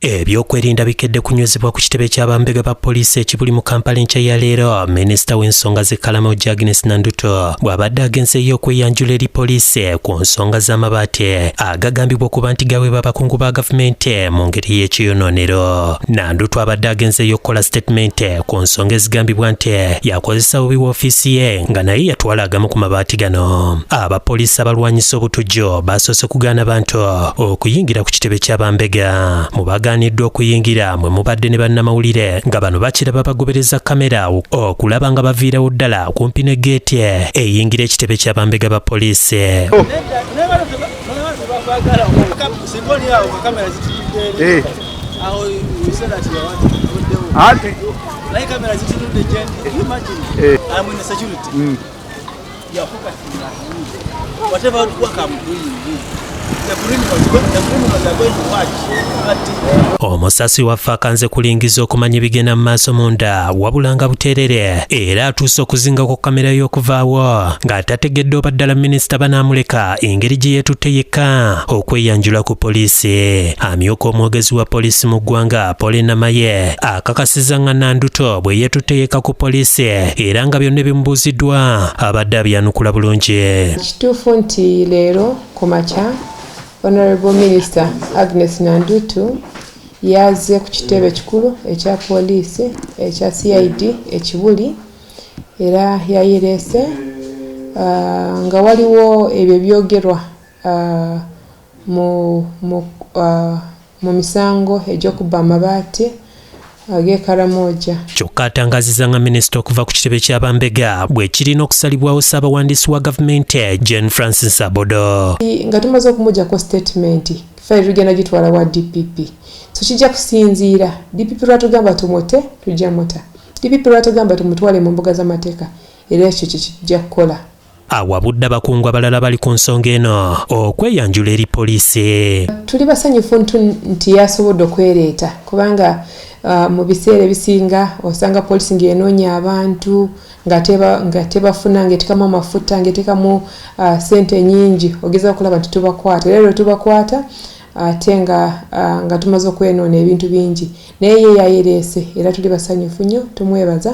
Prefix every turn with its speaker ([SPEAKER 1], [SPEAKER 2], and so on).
[SPEAKER 1] Ebyokwerinda bikedde kunywezebwa ku kitebe kya bambega ba poliisi ekibuli mu Kampala enkya ya leero minisita w'ensonga z'ekkalama ojja Agnes Nanduto bw'abadde agenze ey'okweyanjula eri poliisi ku nsonga z'amabaati agagambibwa okuba nti gaweebwa abakungu ba gavumenti mu ngeri y'ekiyonoonero. Nanduto abadde agenze ey'okukola sitetimenti ku nsonga ezigambibwa nti yakozesa bubi woofiisi ye nga naye yatwala agamu ku mabaati gano. Abapoliisi abalwanyisa obutujju baasoose kugaana bantu okuyingira ku kitebe kya bambega mu bagaaniddwa okuyingira mwe mubadde ne bannamawulire nga bano bakiraba bagobereza kamera okulaba nga baviirawo ddala kumpi ne geeti eyingira ekitebe kya bambega ba poliisi oh. eh. Like I'm in a security. Can you imagine? Eh. I'm in a security. Mm. You're focusing on you. Whatever work I'm doing, you. The criminals, the criminals are going to watch. But omusasi waffe akanze kulingiza okumanya ebigenda mu maaso munda wabula nga buteerere era atuuse okuzinga ku kamera y'okuvaawo ng'atategedde oba ddala minisita banaamuleka engeri gye yeetutte yekka okweyanjula ku poliisi amyuka omwogezi wa poliisi mu ggwanga Polly Namaye akakasiza nga Nanduto bwe yetuteeka ku poliisi era nga byonna ebimubuuziddwa abadde abyanukula bulungi. Kituufu nti
[SPEAKER 2] leero ku makya Honorable Minister Agnes Nandutu yazze ku kitebe kikulu ekya poliisi ekya CID ekibuli era yayireese ah, nga waliwo ebyo ebyogerwa ah, mu mu mu misango egy'okubba amabaati ag'e Karamoja. Kyokka
[SPEAKER 1] atangaziza nga minisita okuva ku kitebe kya bambega bwekirina okusalibwawo ssaabawandiisi wa gavumenti Jane Francis Abodo. Nga tumaze okumugyako
[SPEAKER 2] sitatimenti fayiro tugenda gitwala wa DPP so kijja kusinziira DPP lwatugamba tumute tujja muta DPP lwatugamba tumutwale mu mbuga z'amateeka era ekyo kye kijja kukola. awabudde
[SPEAKER 1] abakungu abalala bali ku nsonga eno okweyanjula eri poliisi tuli basanyufu
[SPEAKER 2] nti yasobodde okwereeta kubanga uh, mu biseera ebisinga osanga poliisi ng'enoonya abantu nga tebafuna ngaetekamu amafuta ngaetekamu uh, sente nyingi ogeza okulaba nti tubakwata era lwe tubakwata ate nga uh, nga tumaze okwenoona ebintu bingi naye ye yayereese era tuli basanyufu nnyo tumwebaza